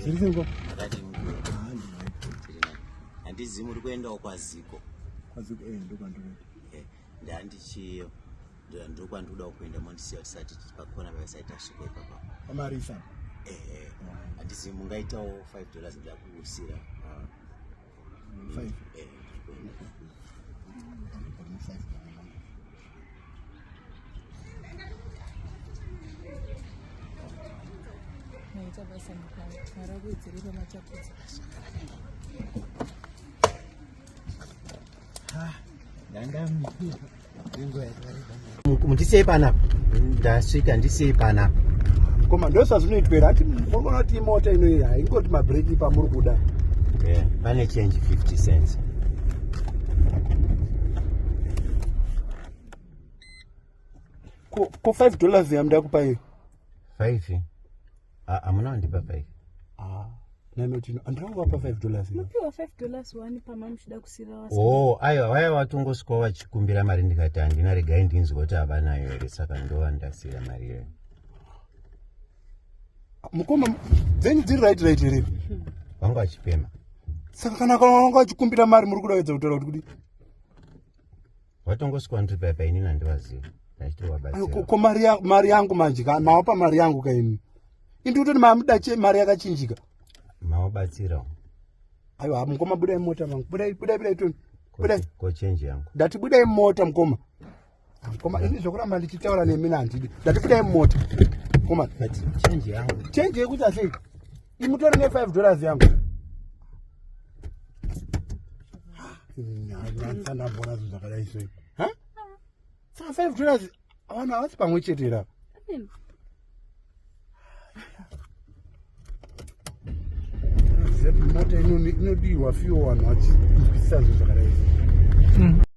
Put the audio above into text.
zviriko ndakati handizivi muri kuendawo kwaziko kwaziko eh, ndokwandinoita eh, ndandichiyo ndokwandikuda kuenda mondisiya tisati pakona pavasati tasvika ipapa pamarisa ehe eh. handisi mungaitawo five dollars ndakuusira ah. five eh, maita basa mukana mara kuwedzere pamachapudza ah, ndandamii ndisei panapa ndasvika ndisei panapa koma ndosazvinoitwera ati mogona kuti imota inoiyi haingoti mabreki pamuri kuda pane yeah, change 50 cents ko 5 dollars yamda kupa iyo 5 Ah, hamuna wandipa five ah, nanotino andirangovapa ah, five dollars mupiwa five dollars wani pama muchida kusira wasa oh aiwa waya watongosvikawo vachikumbira mari ndikati handina regai ndinzwa kuti havanayo here saka ndova ndasira mari iyoyo mukoma dzenyu dziri right right here hmm. vanga vachipema saka kana kana vanga vachikumbira mari muri kuda kuedza kutaura kuti kudii vatongosvikwa ndripa yapa inini handivazivi ko mari yangu manje ka mawapa mari yangu ka ini indi kutoti mamuda mari yakachinjika mawabatsirawo aiwa mukoma budai mota mangu budai budai budai toni budai ko change yangu ndati budai mota mukoma mukoma ini zvokuramba ndichitaura nemi nandidi ndati budai mota mukoma change yangu change yekuti asei imutori ne 5 dollars yangu nyanzandambona zvinhu zvakadai sei ha saka 5 dollars vana havasi pamwe chete ira mota inodiwa fiwo vanhu vachinzwisisa zvinhu zvakadai sei hmm.